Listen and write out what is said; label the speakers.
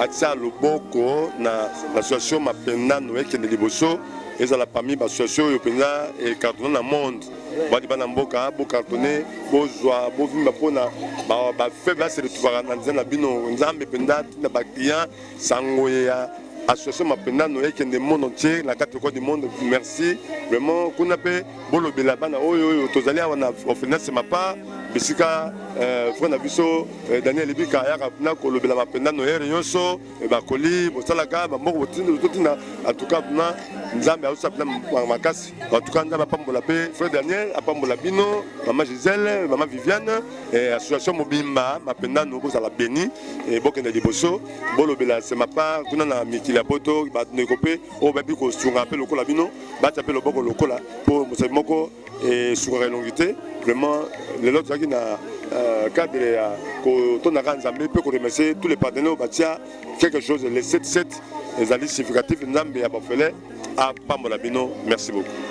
Speaker 1: atia loboko na association mapendano ekende liboso ezala parmi baassociation oyo mpenza ecartone na monde badi bana mboka bocartone bozwa bovimba mpona bafaible ase retrouvaka na nzela na bino nzambe mpenza ntina baclient sango ya association mapendano ekende monde entier na kati ya cote du monde merci vraiment kuna mpe bolobela bana oyo oyo tozali awa na orphelinat semapa bisika eh, frère na biso eh, daniel ebika ayaka na kolobela bapenda noyere nyonso eh, bakoli bosalaka bamboko botinda antuka na nzambe aosa mpena makasi antuka nzambe apambola mpe frère daniel apambola bino mama gisele mama viviane association mobimba mapendano bozala beni bokende liboso bolobela semapa kuna na mikili ya poto bandeko mpe oyo bayebi kosunga mpe lokola bino batya mpe loboko lokola mpo mosali moko esukaka elongi te vraiment lelo tozalaki na euh, cadre ya kotondaka nzambe mpe koremercie tous les partenaires batia quelque chose le 77 ezali significatif nzambe ya bafele apambola bino merci beaucoup